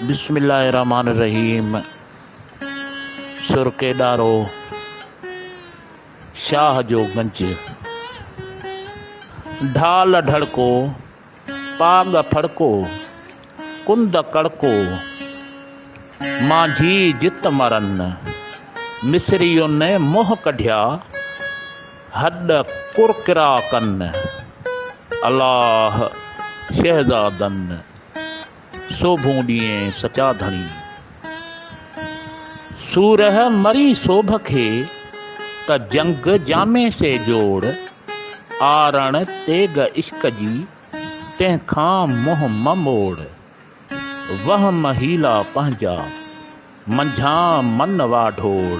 بسم الله الرحمن الرحيم سرڪي ڏارو شاهه جو گنج ڍال ڍڙڪو پاڳ ڦڙڪو، ڪنڌ ڪڙڪو، مانجهي جت مرن، مصرين منهن ڪڍيا، هڏ ڪرڪرا ڪن، الله شهزادن، سوڀون ڏيئين سچا ڌڻي، سورهه مري سوڀ کي، ته جنگ جامي سي جوڙ، آرڻ تيغ عشق جي، تنهن کان منهن مه موڙ، وهم حيلا پنهنجا، منجهان من واڍوڙ.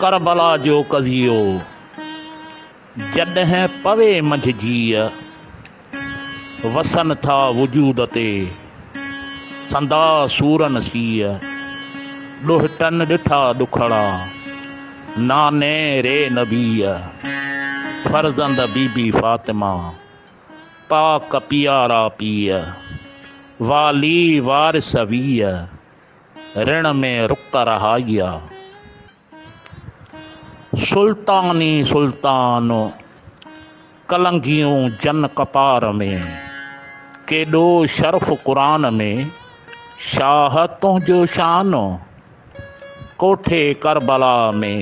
ڪربلا جو قضيو جڏهن پوي منجهه جيء، وسن ٿا وجود تي سندا سورن سيء، ڏوهٽن ڏٺا ڏکڙا ناني ري نبيء، فرزند بي بي فاطمه پاڪ پيارا پيء، والي وارث ويء، رڻ ۾ رڪ رهائي آ. سلطان ئي سلطان ڪلنگيون جن ڪپار ۾، ڪيڏو شرف قرآن ۾، شاهه تنهنجو شان ڪوٺي ڪربلا ۾،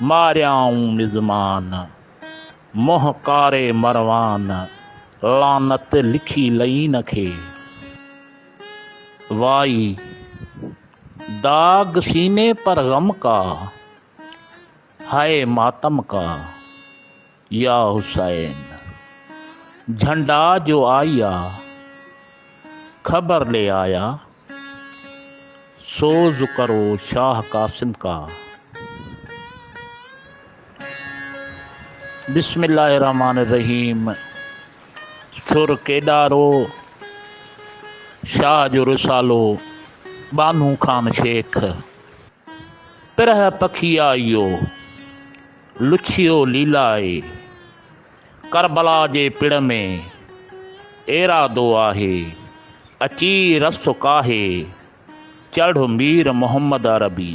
ماريائون مزمان منهن ڪاري مروان، لعنت لکي لعين کي. وائي داغ سيني پر غم ڪا هاء ماتم ڪا يا حسين جهنڊا جو آئي آ خبر لي آيا سوز ڪرو شاهه قاسم ڪا بسم الله الرحمٰن الرحيم. سر ڪيڏارو، شاهه جو رسالو، ٻانهو خان شيخ، پرهه پکيائيو، لڇيو ليلائي، ڪربلا جي پڙ ۾، ايرادو آهي، اچي رس ڪاهي، چڙهه مير محمد عربي.